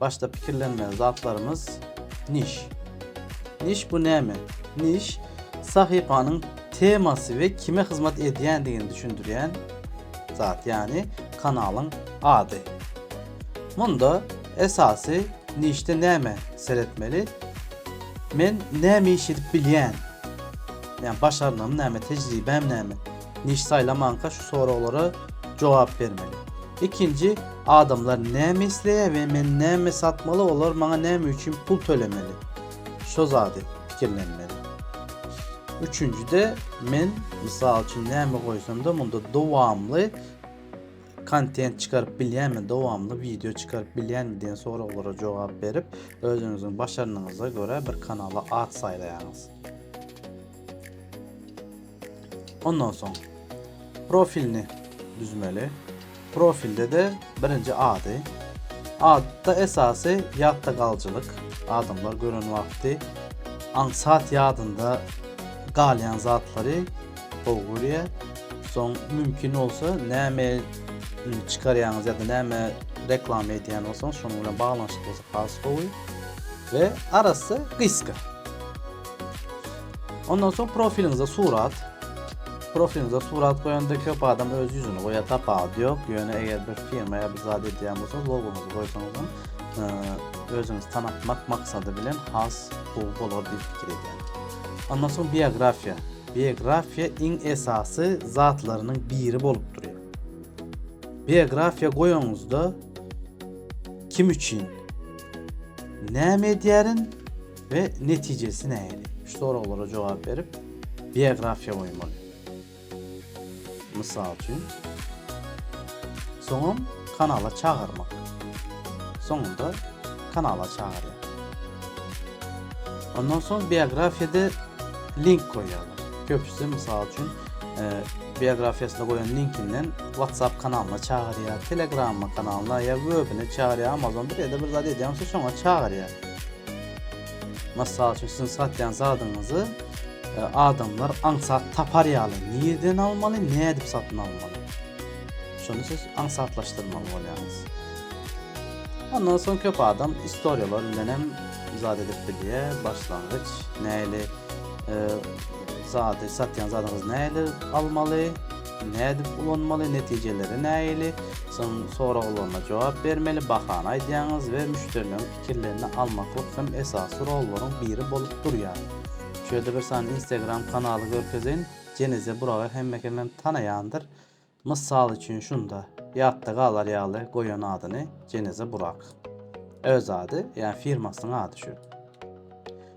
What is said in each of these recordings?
Başda pikirlenmeli zatlarymyz Niş. Niş bu näme? Niş, sahypanyň temasy we kime hyzmat edýändigini düşündirýän zat, ýagny kanalyň ady. Munda esasy Nişde näme seretmeli? Men näme iş edip bilýän? Ýagny başarnygym näme, tejribäm näme? Niş saýlamanka şu soraglara jogap bermeli. Ikinji, adamlar näme isleýär we men näme satmaly, olar maňa näme üçin pul tölemeli? Şo zady pikirlenmeli. Üçünjide, men, mysal üçin, näme goýsam-da munda dowamly kontent çykaryp bilýänmi, dowamly wideo çykaryp bilýänmi diýen soraglara jogap berip, özüňiziň başarnygyňyza görä bir kanala at saýlaýaňyz. Ondan soň profilini düzmeli. Profilde de birinji ady. Adda esasy ýatda galyjylyk. Adamlar gören wagty aňsat ýadynda galýan zatlary gowy görýär. Soň mümkin bolsa näme çykarýaňyz ýa-da näme reklama edýän bolsaňyz şonuň bilen baglanyşykly bolsa has gowy. Ve arasy gysga. Ondan soň profiliňize surat. Profiliňize surat goýanda köp adam öz ýüzüni goýar, tapawut ýok. Ýöne eger bir firma ýa bir zat edýän bolsaňyz, logoňyzy goýsaňyz hem e, özüňizi tanatmak maksady bilen has gowy bolar diýip pikir edýän. Ondan soň biografiýa. Biografiýa iň esasy zatlarynyň biri bolup durýar. Biografiýa goýanyňyzda kim üçin näme edýärin we netijesi nähili? Şu soraglara jogap berip, biografiýa goýmaly. Mysal üçin, soňam kanala çagyrmak. Soňunda kanala çagyrýar. Ondan soň biografiýada link goýýarlar. Köpüsi mysal üçin e, biografiýasyna goýan linkinden WhatsApp kanalyna çagyrýar, Telegram kanalyna ýa webine çagyrýar, Amazon bir ýerde bir zat edýär, onsa şoňa çagyrýar. Mysal üçin siziň satýan zadyňyzy e, adamlar aňsat tapar ýaly nireden almaly, nädip satyn almaly? Şuny siz aňsatlaşdyrmaly bolýaňyz. Ondan soň köp adam istoriýalar bilen hem zat edip bilýär, başlangyç näli e, zady satýan zadyňyzy näli almaly, nädip ulanmaly, netijeleri näli, soň soraglaryna jogap bermeli, bahany aýdýaňyz we müşderileriň Kellende almaklyk hem esasy rollaryň biri bolup durýar. Şu ýerde bir sany instagram kanaly görkezeýin, Jeneze Buragy hemme kemem tanaýandyr. Mysal üçin şunda, ýatda galar ýaly goýan adyny Jeneze Burak. Öz ady, ýa firmasynyň ady şu.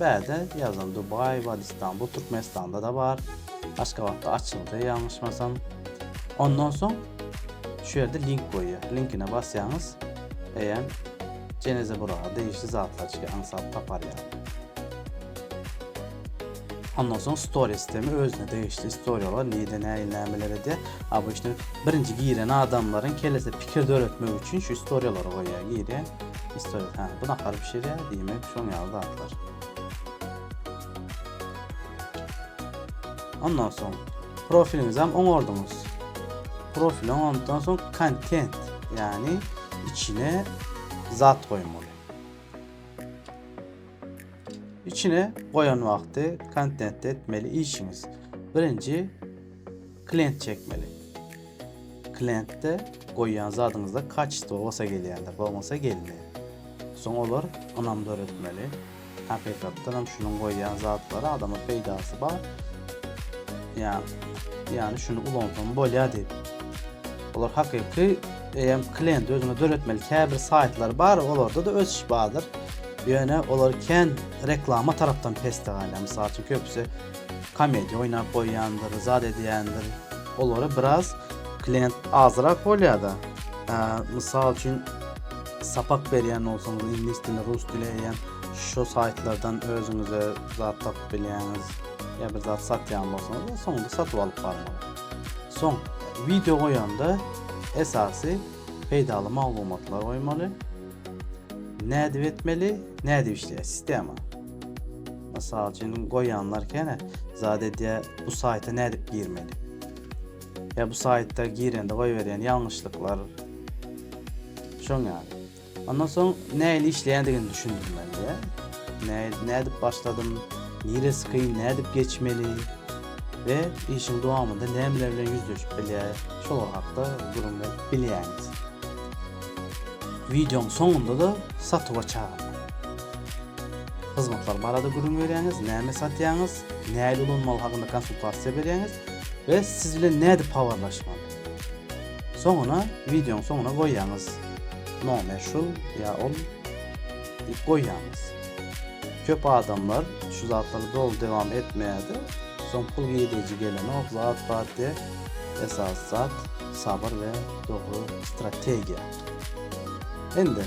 Bäde ýazyl Dubaý bar Istanbul Türkmenistanda-da bar. Aşgabatda açyldy ýalňyşmasam. Ondan soň şu ýerde link goýýar. Linkine basýaňyz eýýäm Jenezeburaga degişli zatlar çykyr aňsat tapar ýaly. Ondan soň stories demi özüne degişli istoriýalar nirde nähili nämeler edýär. Obýçny birinji giren adamlaryň kellesinde pikir döretmek üçin şu istoriýalary goýýar girýär. Istorýa, hä, bu nahary bişirýär, diýmek, şoň ýaly zatlar. Ondan soň profiliňizi hem oňardyňyz. Profili oňardyňdan soň kontent, ýagny içine zat goýmaly. içine goýan wagty kontentde etmeli işiňiz. Birinji Klient çekmeli. Klientde goýýan zadyňyzda kaçestvo bolsa gelýändir, bolmasa gelmeýär. Soň olar ynam döretmeli. Hakykatdan hem şunuň goýýan zatlary adama peýdasy bar. Ýa, ýany şuny ulansam bolýar diýip. Olar hakyky eýem klient özüne döretmeli käbir saýtlar bar, olarda da ösüş bardyr. Ýöne olar kän reklama tarapdan pesde galýar. Mysal üçin köpüsi komediýa oýnap goýýandyr, zat edýändir. Olara biraz klient azrak bolýar-da. Mysal üçin, sapak berýän bolsaňyz, iňlis dili, rus dili eýýäm şu saýtlardan özüňize zat tapyp bilýäňiz. Ýa bir zat satýan bolsaňyz, soňunda satup alyp barmaly. Soň, wideo goýanda esasy peýdaly maglumatlar goýmaly. Nädip etmeli, nädip işleýär sistema? Mysal üçin goýanlar kene zat edýä bu saýta nädip girmeli. Ýa bu saýta girende goýberýän ýalňyşlyklar. Şoň ýaly. Ondan soň nähili işleýändigini düşündirmeli ýa. Nädip başladym, niresi kyn, nädip geçmeli we işiň dowamynda nämeler bilen ýüzleşip bilýär, şolar hakda gürrüň berip bilýäňiz. Wideoň soňunda-da satuwa çagyrmak. Hyzmatlar barada gürrüň berýäňiz, näme satýaňyz, nähili ulanmaly hakynda konsultasiýa berýäňiz we siz bilen nädip habarlaşmaly. Soňuna, wideoň soňuna goýýaňyz. Nomer şul ýa ol diýip goýýaňyz. Köp adamlar şu zatlary doly dowam etmeýärdi. Soň pul girdiji gelenok, zat bar diýip, esasy zat sabyr we dogry strategiýa. Indi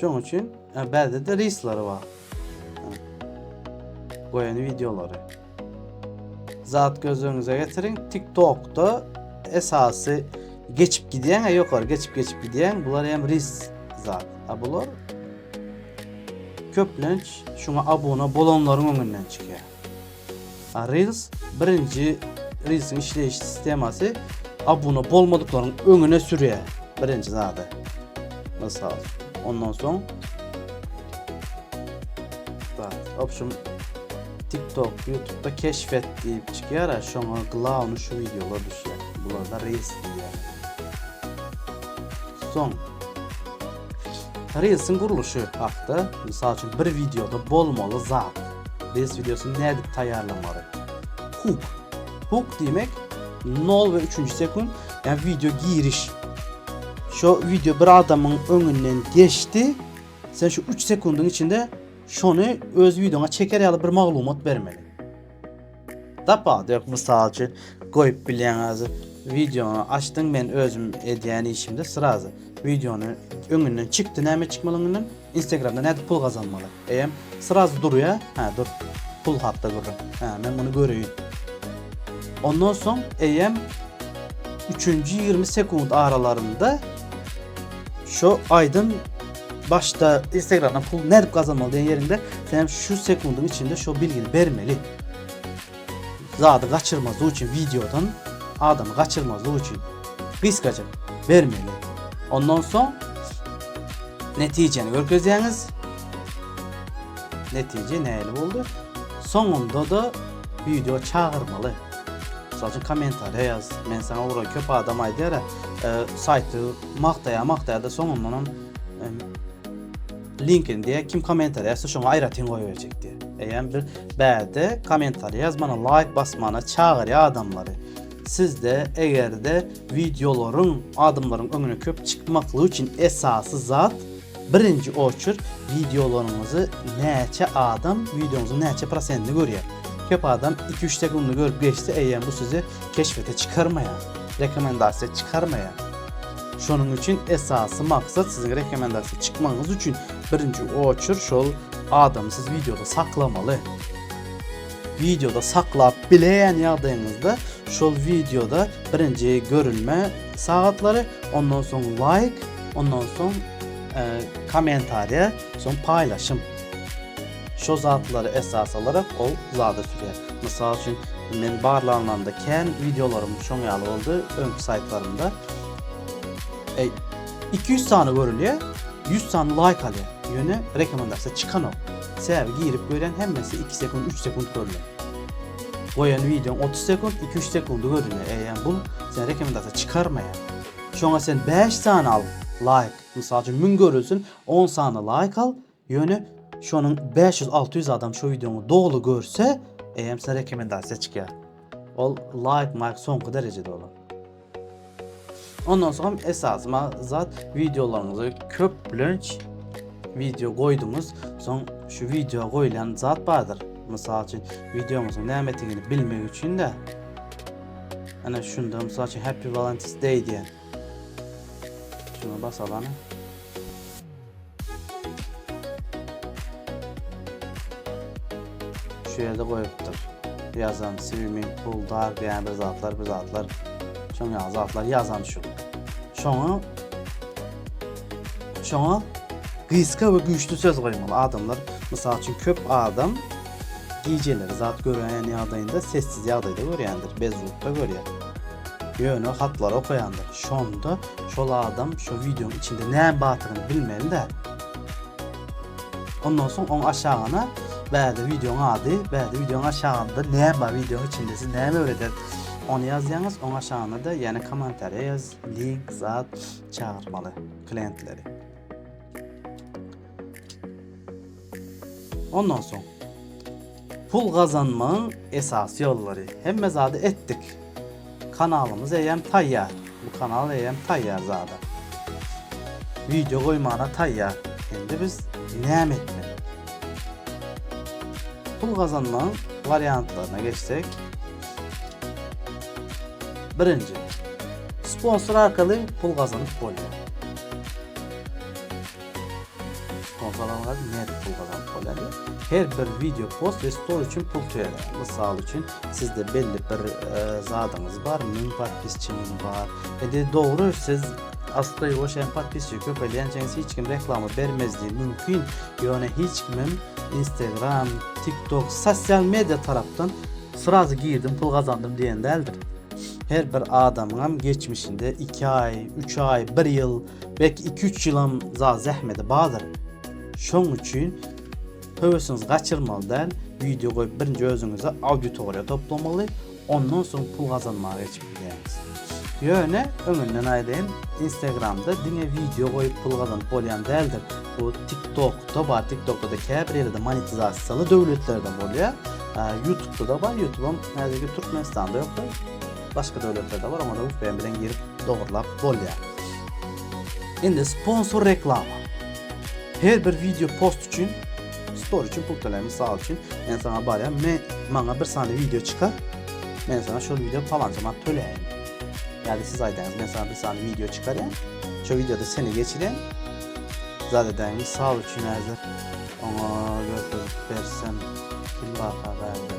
Şoň üçin e, bäzide risleri bar. Goýan wideolary. Zat göz öňüňize getiriň. TikTokda esasy geçip gidýän, e, ýokary geçip geçip gidýän bular hem ris zat. A bular köplenç şuňa abuna bolanlaryň öňünden çykýar. Reels birinji Reelsiň işleýiş sistemasy abuna bolmadyklaryň öňüne sürýär. Birinji zady. Mysal. Ondan soň Bak, opşum TikTok, YouTube'da keşfet diýip çykýar, şoňa glawny şu wideolar düşýär. Bularda Reels diýýär. Soň Reelsiň gurluşy hakda, mysal üçin, bir wideoda bolmaly zat. Reels wideosyny nädip taýýarlamaly? Hook. Hook diýmek nol we üçünji sekunt, ýa wideo giriş. Şo wideo bir adamyň öňünden geçdi, sen şu üç sekundyň içinde şony öz wideoňa çeker ýaly bir maglumat bermeli. Tapawudy ýok mysal üçin goýup bilýäňiz wideony açdyň men özüm edýän işimde srazy wideony öňünden çykdy näme çykmaly öňünden instagramda nädip pul gazanmaly eýem srazy durýa ha dur pul hakda gürrüň ha men muny göreýin ondan soň eýem üçünji ýigrimi sekunt aralarynda şu aýdym Başda Instagramdan pul nädip gazanmaly diýen ýerinde sen şu sekundyň içinde şu bilgini bermeli. Zady gaçyrmazlyk üçin videodan adamy gaçyrmazlyk üçin gysgaça bermeli. Ondan soň netijäni görkezýäňiz. Netije näli boldy? Soňunda da video çagyrmaly. Mysal üçin kommentariýa ýaz. Men saňa ura köp adam aýdýar, e, saýty Magtaýar magtaýarda soňundanam linkin diýä kim kommentariýa ýazsa şoňa aýratyn goýberjek diýä. Eýem bir bäde kommentariýa ýazmana laýk basmana çagyrýa adamlary. Sizde egerde wideolaryň adamlaryň öňüne köp çykmaklygy üçin esasy zat Birinji oçert wideolaryňyzy näçe adam wideoňyzyň näçe prosentini görýär? Köp adam iki üç sekundy görüp geçse eýýäm bu sizi keşbete çykarmaýar. Rekomendasiýa çykarmaýar. Şonuň üçin esasy maksat siziň rekomendasiýa çykmagyňyz üçin birinji oçert şol adamy siz wideoda saklamaly. Wideoda saklap bileýän ýagdaýyňyzda şol wideoda birinji görülme sagatlary ondan soň laýk, Ondan soň e, kommentariýa, soň paýlaşym. Şo zatlary esas alarak ol zada sürýär. Mysal üçin, men barlanlanda kän wideolarym şoň ýaly boldy, öňki saýtlarymda. E, 200 sany görülýär, 100 sany laýk alýar. Ýöne rekomendasiýa çykanok. Sebäbi girip görýän hemmesi 2 sekund, 3 sekund görülýär. Goýan wideoň 30 sekund, 2-3 sekundy görülýär. E, ýa bu sen rekomendasiýa çykarmaýar. Şoňa sen bäş sany al laýk, mysal üçin müň görülsin on sany laýk al, ýöne şonuň bäş ýüz alty ýüz adam şo wideoňy doly görse, eýýäm size rekomendasiýa çykýar. Ol laýk maýk soňky derejede olar. Ondan soň esasy ma zat wideolaryňyzy köplenç wideo goýduňyz, soň şu wideo goýlan zat bardyr. Mysal üçin wideoňyzyň nämedigini bilmek üçin-de Ana şunda mysal üçin Happy Valentine's Day diýen. Şuna basalan. Şu ýerde goýupdyr. Ýazan swimming pool dar diýen bir zatlar, bir zatlar. Şoň ýaly zatlar ýazan şu. Şoňa şoňa gysga we güýçli söz goýmaly. Adamlar, mysal üçin köp adam Gijeleri zat görmeýän ýagdaýynda sessiz ýagdaýda görýändir, bezrukda görýär. Ýöne hatlary okaýandyr. Şonda şol adam şu wideonyň içinde näme bardygyny bilmeli-dä. Ondan soň oň aşagyna bäde wideonyň ady, bäde wideonyň aşagynda näme bar, wideonyň içinde siz näme öwredýäňiz? Ony ýazýaňyz, oň aşagyna-da ýene kommentariýa ýaz, link, zat çagyrmaly klientleri. Ondan soň pul gazanmagyň esasy ýollary. Hemme zady etdik. Kanalymyz eýýäm taýýar. Bu kanal eýýäm taýýar zada. Wideo goýmana taýýar. Indi biz näme etmeli? Pul gazanmagyň wariantlaryna geçsek. Birinji. Sponsor arkaly pul gazanyp bolýar. Pul gazanmak nädip pul gazanyp bolýar? Her bir video post we story üçin pul töleýär. Mysal üçin, sizde belli bir zadyňyz bar, 1000 podpisçiňiz bar. Indi dogry siz asly o şeýle podpisçi köpelýänçäňiz hiç kim reklama bermezdi mümkin. Ýöne hiç kimem Instagram, TikTok, sosial media tarapdan srazy girdim, pul gazandym diýen däldir. Her bir adamyňam geçmişinde 2 aý, 3 aý, 1 ýyl Belki iki üç ýylam za zähmedi badyr. Şoň üçin höwesiňizi gaçyrmaly däl, wideo goýup birinji özüňize auditoriýa toplamaly, ondan soň pul gazanmaga geçip bilersiňiz. Ýöne öňünden aýdaýyn, instagramda diňe wideo goýup pul gazanyp bolýan däldir. Bu tiktokda bar, tiktokda-da käbir ýerde monetizasiýaly döwletlerde bolýar. Ýutubda-da bar, ýutubam häzirki Türkmenistanda ýokdur. Başga döwletlerde bar oňada vpn bilen girip dogurlap bolýar. Indi sponsor reklama. Her bir video post üçin story üçin pul töläýin. Mysal üçin, men saňa barýan, men maňa bir sany video çykar. Men saňa şol video palança manat töläýin. Ýa-da siz aýdaňyz, men saňa bir sany video çykarýan. Şol videoda seni geçiren. Zat edäýin, mysal üçin häzir oňa götürip bersem kim barka bärde.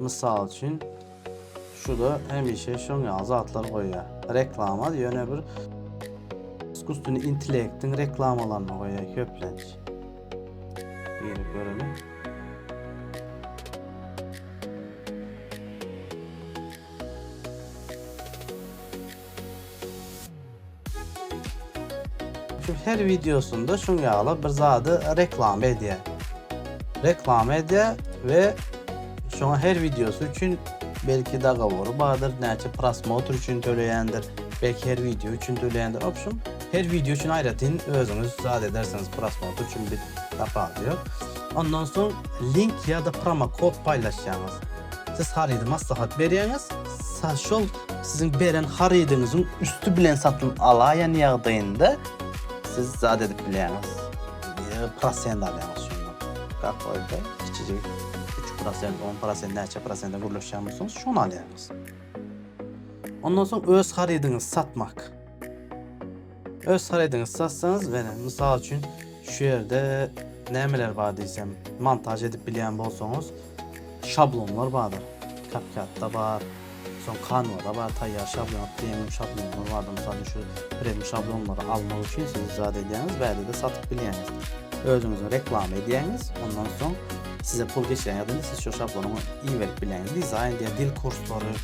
Mysal üçin, şuda hemişe şoň ýaly zatlar goýýar. Reklama ýöne bir iskustunly intellektiň reklamalaryny goýýar köplenç. Ýeri görelim. Şu her videosunda şun ýaly bir zady reklama edýär. Reklama edýär we şoňa her videosy üçin belki dagawory bardyr, näçe prosmotr üçin töleýändir, belki her video üçin töleýändir. W opşum, her video üçin aýratyn özüňiz zat edersiňiz, prosmotr üçin bir tapawudy ýok. Ondan soň link ýa-da promokod paýlaşýaňyz. Siz harydy maslahat berýäňiz, Saz şol, siziň beren harydyňyzyň üsti bilen satyn alaýan ýagdaýynda siz zat edip bilýäňiz. Ýa-da prosent alýaňyz şondan. Gap bolsa, kiçijik üç prosent, on prosent, näçe prosente gürleşýän bolsaňyz, şony alýaňyz. Ondan soň öz harydyňyzy satmak. Öz harydyňyzy satsaňyz menä mysal üçin şu ýerde nämeler bar diýsem montaž edip bilýän bolsaňyz şablonlar bardyr. CapCut-da bar, soň Canva-da bar taýýar şablon, premium şablonlar bardyr. Mysal üçin şu premium şablonlary almak üçin siz zat edýäňiz bäde-de satyp bilýäňiz. Özüňize reklama edýäňiz, ondan soň size pul geçýän ýa-da indi siz şu şablony iberip bilýäňiz. Dizaýn diýen dil kurslary,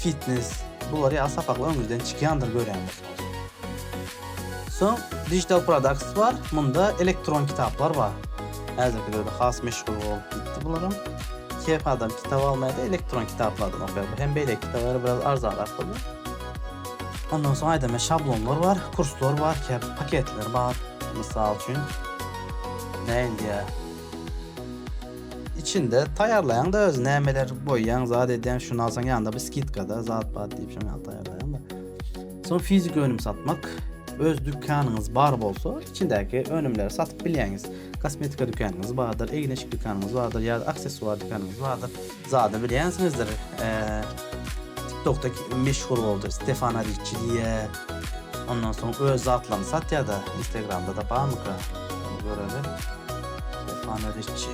fitnes, bular ýaly sapaklar öňüňizden çykýandyr görýäňiz. Soň Digital Products bar, munda elektron kitaplar bar. Häzirkilerde has meşhur bolup gitdi bularam. Her adam kitap almaýar-da, elektron kitaplardan okaýar. Bu hem beýleki kitaplara biraz arzanrak bolýar. Ondan soň aýdama şablonlar bar, kurslar bar, käbir paketler bar. Mysal üçin, näin diýýär? Içinde taýýarlaýaň-da özi, nämeler goýýaň, zat edýäň, şuny alsaň ýanynda bir skidka-da, zat-pat diýip şoňa taýýarlaýaň-da. Soň fizik önüm satmak, öz dükanyňyz bar bolsa, içindäki önümleri satyp bilýäňiz. Kosmetika dükanyňyz bardyr, egin-eşik dükanyňyz bardyr ýa-da aksessuar dükanyňyz bardyr. Zada bilýänsiňizdir, TikTokda meşhur boldy Stefana Riçi diýýär. Ondan soň öz zatlaryny satýar-da, Instagramda-da barmyka? Göreli. Stefana Riçi.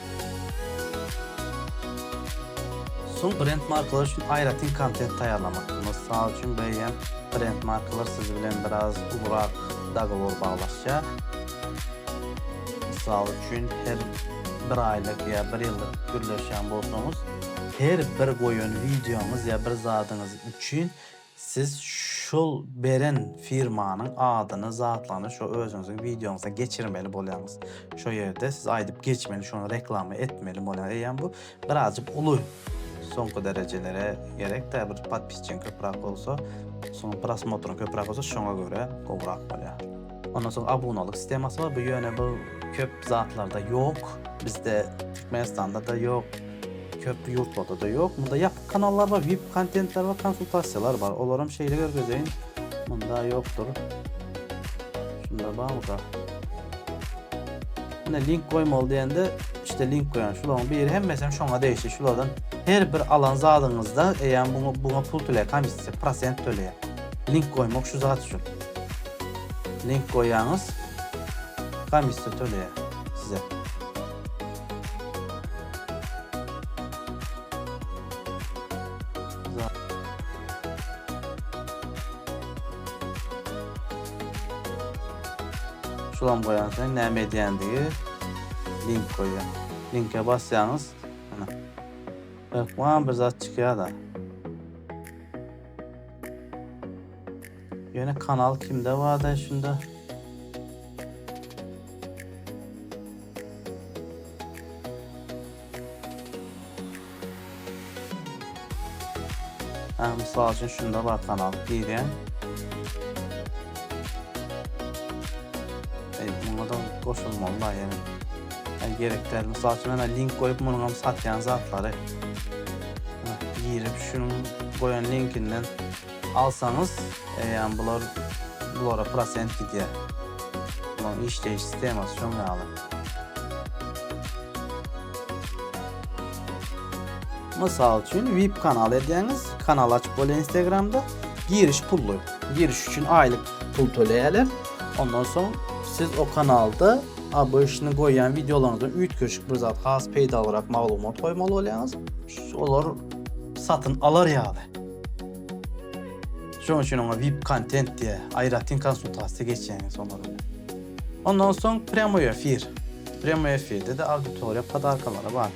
Soň brend markalar üçin aýratyn kontent taýýarlamak. Mysal üçin, beýlän brend markalar siz bilen biraz ulurak dogowor baglaşýar. Mysal üçin, her bir aýlyk ýa bir ýyllyk gürleşýän bolsaňyz, her bir goýan wideoňyz ýa bir zadyňyz üçin Siz şul beren firmanyň adyny zatlygyny şo özüňiziň wideoňyza geçirmeli bolýaňyz. Şo ýerde siz aýdyp geçmeli şony reklama etmeli bolýaňyz. Eýýäm bu birazjyk uly soňky derejelere gerekdä bir podpisçiň köprak bolsa, soň prosmotryň köprak bolsa şoňa görä gowrak bolýar. Ondan soň abunalyk sistemasy bar. Bu ýöne bu köp zatlarda ýok. Bizde Türkmenistanda-da ýok. Köp ýurtlarda-da ýok. Munda ýapyk kanallar bar, vip kontentler bar, konsultasiýalar bar. Olaram şeýle görkezeýin. Munda ýokdur. Şunda barmyka? Ine link goýmaly diýende işte link goýan. Şularyň biri hemmesi hem şoňa degişli. Şulardan her bir alan zadyňyzda eýýäm buňa buňa pul töleýär, komissiýa, prosent töleýär. Link goýmak şu zat üçin. Link goýýaňyz, komissiýa töleýär size. Şulam goýan sen näme edýändigi link goýýar. Linke basýaňyz, ana. Hökman bir zat çykýar-da. Ýöne kanal kimde barda şunda? Hä, mysal üçin şunda bar kanal girýän. Ey, muňa da goşulmaly bar ýene. Ey, gerek däl. Mysal üçin, men link goýup, munuň hem satýan zatlary. Girip şunuň goýan linkinden alsaňyz eýýäm bular bulara prosent gidýär. Bularyň işleýiş sistemasy şoň ýaly. Mysal üçin vip kanal edýäňiz, kanal açyp bolýar Instagramda. Giriş pully. Giriş üçin aýlyk pul töleýärler. Ondan soň siz o kanalda ABŞ-nyň goýýan wideolaryňyzdan üýtgeşik bir zat, has peýdalyrak maglumat goýmaly bolýaňyz. Olar satyn alar ýaly. Şonuň üçin oňa VIP kontent diýe, aýratyn konsultasiýa geçýäňiz olar bilen. Ondan soň prýamoý efir. Prýamoý efirde-de auditoriýa podarkalary bar.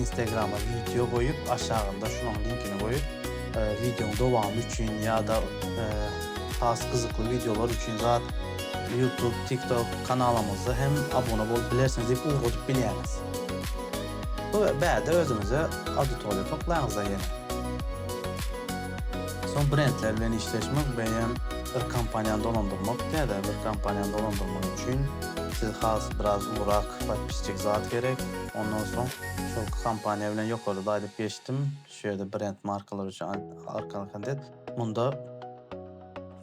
Instagrama wideo goýup aşagynda şunuň linkini goýup wideoň dowamy üçin ýa-da has gyzykly wideolar üçin zat YouTube, TikTok kanalymyza hem abuna bolup bilersiňiz diýip ugradyp bilýäris. Bu bärde özüňize auditoriýa toplaýaňyzda ýene. Soň brendler bilen işleşmek beýem bir kompaniýany dolandyrmak täze bir kompaniýany dolandyrmak üçin siz has biraz ugrak podpisçik zat gerek. Ondan soň şol kompaniýa bilen ýokary baýlyp geçdim. Şu ýerde brend markalary üçin arkaly kontent. Munda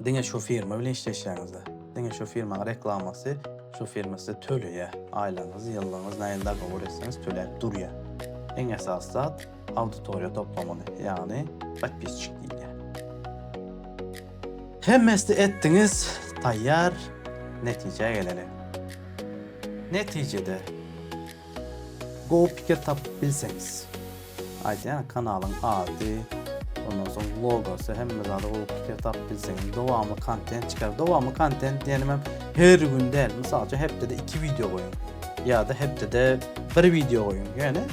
diňe şu firma bilen işleşýäňizde, diňe şu firmanyň reklamasy, şu firma size töleýär. Aýlygyňyz, ýyllygyňyz nähili dogabor etseňiz töläp durýar. Iň esasy zat, auditoriýa toplamaly, ýagny podpisçik diýilýär. Hemmesini etdiňiz, taýýar, netijä geleli. Netijede gowy pikir tapyp bilseňiz, aýdýan kanalyň ady, ondan soň logosy, hemme zady gowy pikir tapyp bilseňiz, dowamly kontent çykaryp, dowamly kontent diýenim hem Her gün däl, mysal üçin hepdede iki wideo goýuň. Ýa-da hepdede bir wideo goýuň. Ýöne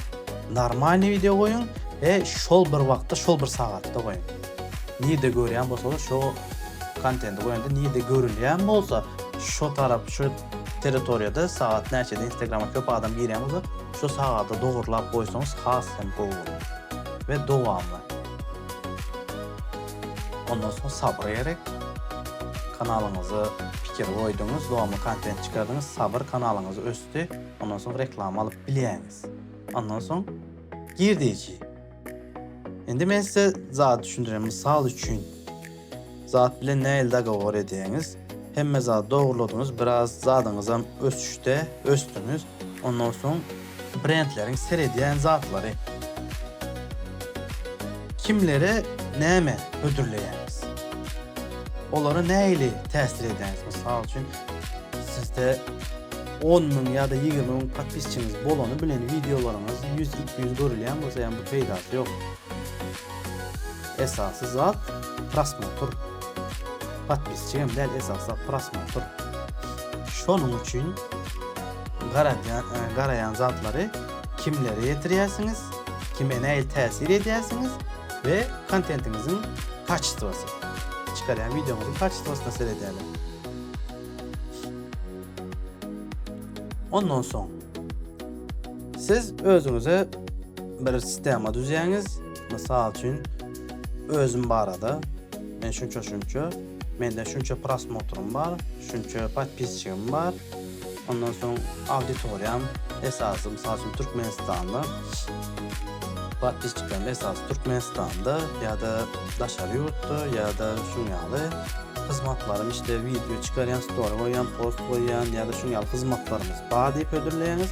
normalny wideo goýuň we şol bir wagtda, şol bir sagatda goýuň. Nirde görýän bolsaňyz, şo kontenti goýanda nirde görülýän bolsa, şo tarap, şo territoriýada sagat näçede Instagrama köp adam girýän bolsa, şo sagada dogurlap goýsaňyz has hem gowy bolar we dowamly. Ondan soň Sabyr Erik kanalyňyza pikir goýduňyz, dowamly kontent çykardyňyz, Sabyr kanalyňyz ösdi, ondan soň reklama alyp bilýäňiz. Ondan soň girdeji. Indi men size zat düşündirýän, mysal üçin zat bilen nähili dogowor edýäňiz? Hemme zady dogryladyňyz, biraz zadyňyzam ösüşde, ösdüňiz. Ondan soň brendleriň seredýän zatlary. Kimlere näme hödürleýäňiz? Olara nähili täsir edýäňiz? Mysal üçin, sizde on müň ýa-da ýigrimi müň podpisçiňiz bolany bilen wideolaryňyz ýüz, iki ýüz görülýän bolsa, ýa bu peýdasy ýok. Esasy zat prosmotr. Podpisçi hem däl esasy zat prosmotr. Şonuň üçin garadýan garaýan zatlary kimlere ýetirýärsiňiz, kime nähili täsir edýärsiňiz we kontentiňiziň kaçestwasy. Çykarýan wideoňyzyň kaçestwasyna seredýärler. Ondan soň Siz özüňize bir sistema düzýäňiz. Mysal üçin, özüm barada men şunça şunça, mende şunça prosmotrym bar, şunça podpisçigim bar. Ondan soň auditoriýam esasy mysal üçin Türkmenistanly. Podpisçiklerim esasy Türkmenistanda ýa-da daşary ýurtda ýa-da şuň ýaly hyzmatlarym işte wideo çykarýan, story goýýan, post goýýan ýa-da şuň ýaly hyzmatlarymyz bar diýip hödürleýäňiz.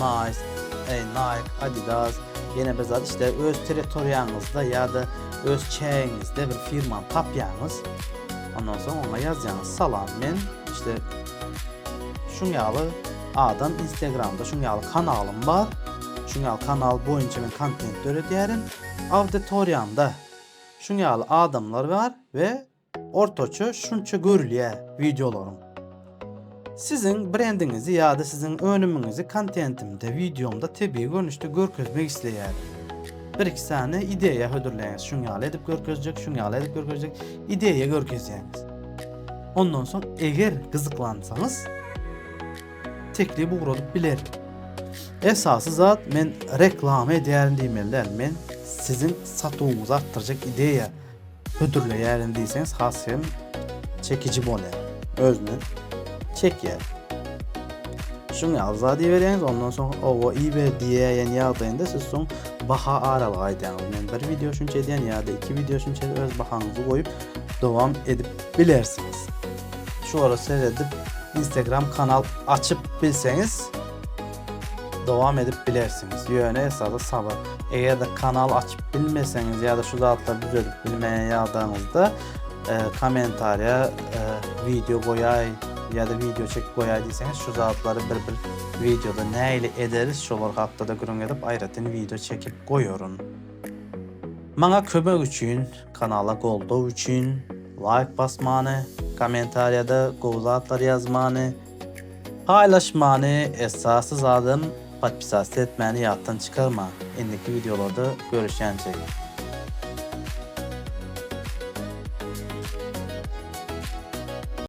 Nice, eý Nike, Adidas, ýene bir zat işte öz territoriýaňyzda ýa-da öz çägiňizde bir firmany tapýaňyz. Ondan soň oňa ýazýaňyz, Salam, men işte şuň ýaly adam, Instagramda şuň ýaly kanalym bar, şuň ýaly kanal boýunça men kontent döredýärin, auditoriýamda şuň ýaly adamlar bar we Ortaça şunça görülýär wideolaryň. Siziň brendiňizi ýa-da siziň önümiňizi kontentimde, wideomda tebigy görnüşde görkezmek isleýärin. Bir-iki sany ideýa hödürleýäňiz, şuň ýaly edip görkezjek, şuň ýaly edip görkezjek, ideýa görkezýäňiz. Ondan soň eger gyzyklansaňyz teklip ugradyp bilerin. Esasy zat men reklama edýärin diýmeli däl. Men siziň satuwyňyzy artdyrjak ideýa Hödürleýärin diýseňiz has hem çekiji bolýar. Özüne çekýär. Şuň ýaly zat iberýäňiz, ondan soň owa iber diýýän ýagdaýynda siz soň baha aralygy aýdýaňyz. Men bir wideo şunça edýän ýa-da iki wideo şunça öz bahaňyzy goýup dowam edip bilersiňiz. Şulara seredip Instagram kanal açyp bilseňiz Dowam edip bilersiňiz. Ýöne esasy sabyr. Eger-de kanal açyp bilmeseňiz ýa-da şu zatlary düzedip bilmeýän ýagdaýyňyzda kommentariýa wideo goýaý ýa-da wideo çekip goýaý diýseňiz şu zatlary bir bir wideoda nähili ederis şolar hakda-da gürrüň edip aýratyn wideo çekip goýaryn. Maňa kömek üçin, kanala goldaw üçin laýk basmany, kommentariýada gowy zatlar ýazmany, Paýlaşmany esasy zadam podpisasty etmäni ýatdan çykarmaň indiki wideolarda görüşýänçäik.